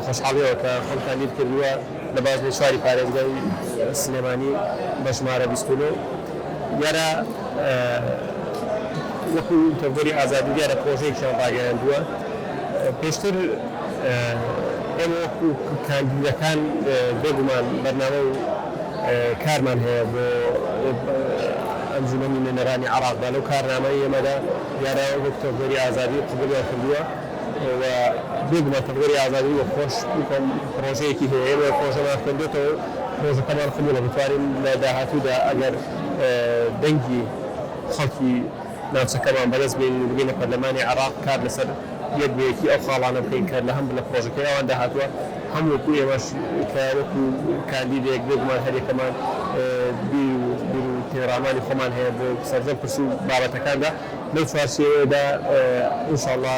خۆشحاڵیەوە کە خەمتان لیر کردووە لە بازنەی چواری پارێزگای سلێمانی بە ژمارە بیست و نۆ دیارە وەکو تەڤگەری ئازادی دیارە پرۆژەیەکیان ڕاگەیاندووە پێشتر ئێمە وەکو کاندیدەکان بێگومان بەرنامە و کارمان هەیە بۆ ئەنجومەنی نوێنەرانی عراق دا لەو کارنامەی ئێمەدا دیارە وەک تەڤگەری ئازادی قبوڵیان کردووە. و بێگومان تەڤگەری ئازادی و خۆش بکەم پڕۆژەیەکی هەیە ئێمە پڕۆژەمان خوێندۆتەوە و پڕۆژەکەمان قبوڵە بتوانین لە داهاتوودا ئەگەر دەنگی خەڵکی ناوچەکەمان بەدەست بێنین و بگەینە پەرلەمانی عێراق کار لەسەر یەک بە یەکی ئەو خاڵانە بکەین کە لە هەم لە پڕۆژەکەی ئەوان داهاتووە هەم وەکو ئێمەش کە وەکو کاندیدێک بێگومان هەریەکەمان بیر و بیر و تێرامانی خۆمان هەیە بۆ سەرجەم پرس و بابەتەکاندا. لەو چوارچێوەیەدا ان شاء اللە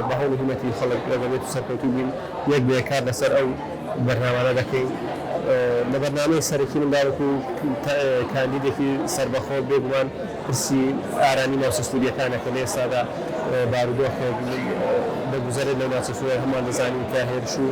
بە هەوڵ و هیمەتی خەڵک لە دەبێت و سەرکەوتوو بین یەک بە یەک کار لەسەر ئەو بەرنامانە دەکەین لە بەرنامەی سەرەکی مندا وەکو کاندیدێکی سەربەخۆ بێگومان پرسی ئارامی ناوچە سوورییەکانە کە لە ئێستادا بارودۆخێک دەگوزەرێت لەو ناوچە سوورییە هەمووان دەزانین کە هێرش و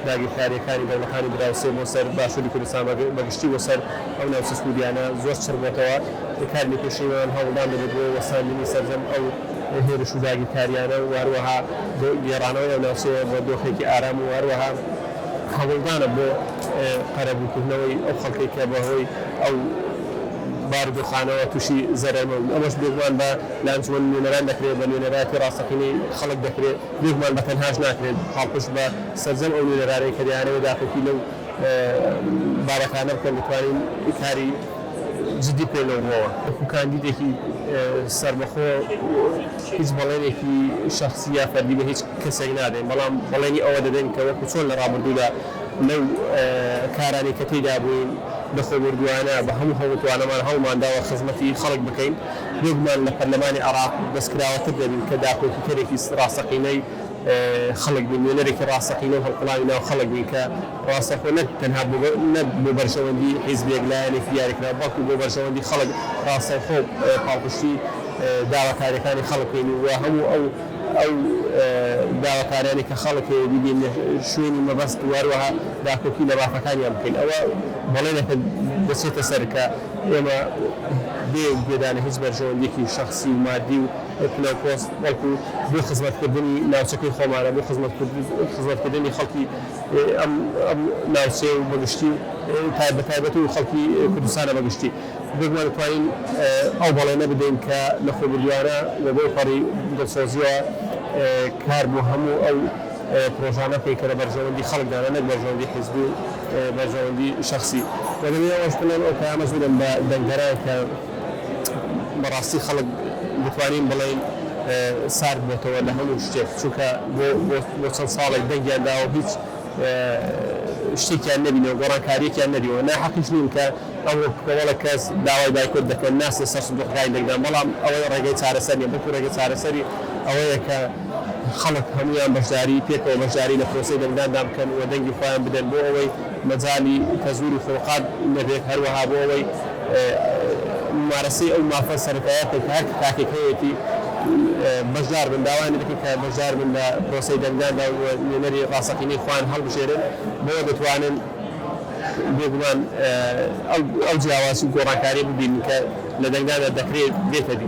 داگیرکارییەکانی دەوڵەتانی دراوسێ بۆ سەر باشووری کوردستان بە گشتی بۆ سەر ئەو ناوچە سوورییانە زۆر چڕبووەتەوە. کارمی پێشینەوان هەوڵدان دەبێت بۆ وەستاندنی سەرجەم ئەو هێرش و داگیرکارییانە و هەروەها بۆ گێڕانەوەی ئەو ناوچەیە بە دۆخێکی ئارام و هەروەها هەوڵدانە بۆ قەرەبووکردنەوەی ئەو خەڵکەی کە بەهۆی ئەو بارودۆخانەوە تووشی زەرەر بوون ئەمەش بێگومان بە لە ئەنجومەنی نوێنەران دەکرێت بە نوێنەرایەتی ڕاستەقینەی خەڵک دەکرێت بێگومان بە تەنهاش ناکرێت پاڵپشت بە سەرجەم ئەو نوێنەرانەی کە دەیانەوێت داکۆکی لەو بابەتانە بکەن دەتوانین کاری جدی پێ لەو ڕۆوە وەکو کاندیدێکی سەربەخۆ هیچ بەڵێنێکی شەخسی یا فەردی بە هیچ کەسێک نادەین بەڵام بەڵێنی ئەوە دەدەین کە وەکو چۆن لە ڕابردوودا لەو کارانەی کە تێیدا بووین بە خۆبوردووانە بە هەموو هەڵ و توانەمان هەوڵمان داوە خزمەتی خەڵک بکەین بێگومان لە پەرلەمانی عێراق بەسکراوەتر دەبین کە داکۆکیکەرێکی ڕاستەقینەی خەڵک بین نوێنەرێکی ڕاستەقینە و هەڵقوڵاوی ناو خەڵک بین کە ڕاستەخۆ نەک تەنها بۆ بەرژەوەندی حیزبێک لایەنێکی دیاریکراو بەڵکو بۆ بەرژەوەندی خەڵک ڕاستەوخۆ پاڵپشتی داواکاریەکانی خەڵک کەین و هەموو ئەو ئەو داواکاریانەی کە خەڵک هەیە بیگەینە شوێنی مەبەست وهەروەها داکۆکی لە مافەکانیان بکەین ئەوە بەڵێنێکە دەچێتە سەر کە ئێمە بێ گوێدانە هیچ بەرژەوەندیەکی شەخسی و مادی و پلەو پۆست بەڵکو بۆ خزمەتکردنی ناوچەکەی خۆمانە بۆ خزمەتکردنی خەڵکی ئەم ناوچەیە و بەگشتی تای بە تایبەتی و خەڵکی کوردستانە بە گشتی بێگومان دەتوانین ئەو بەڵێنە بدەین کە لە خۆبوردووانە و بەو پەڕی دڵسۆزییەوە کار بۆ هەموو ئەو پرۆژانە بکەین کە لە بەرژەوەندی خەڵکدانە نەک بەرژەوەندی حیزبی و بەرژەوەندی شەخسی و دەبێ ئەوەش بڵێم ئەو پەیامە زۆرم بە دەنگدەران کە بەڕاستی خەڵک دەتوانین بڵێین سارد بۆتەوە لە هەموو شتێک چونکە بۆ بۆ چەند ساڵێک دەنگیان داوە هیچ شتێکیان نەبینەوە گۆڕانکاریەکیان نەبیەوە ناحەقیش نین کە ئەوڕۆ کۆمەڵە کەس داوای بایکۆت دەکەن ناچنە سەر سندوقەکانی دەنگدان بەڵام ئەوەی ڕێگەی چارەسەر نیە بەڵکو ڕێگە چارەسەری ئەوەیە کە خەڵک هەموویان بەشداری پێکەوە بەشداری لە پرۆسەی دەنگداندا بکەن و دەنگی خۆیان بدەن بۆ ئەوەی مەجالی پەزوور و فورقاد نەبێت، هەروەها بۆ ئەوەی مومارەسەی ئەو مافە سەرەتایە بکەن کە هەر تاکێک هەیەتی بەشدار بن، داوایان لێ دەکەین کە بەشدار بن لە پرۆسەی دەنگداندا و نوێنەری ڕاستەقینەی خۆیان هەڵبژێرن، بەوە دەتوانن بێگومان ئەو جیاوازی و گۆڕانکارییە ببینن کە لە دەنگداندا دەکرێت بێتە دی.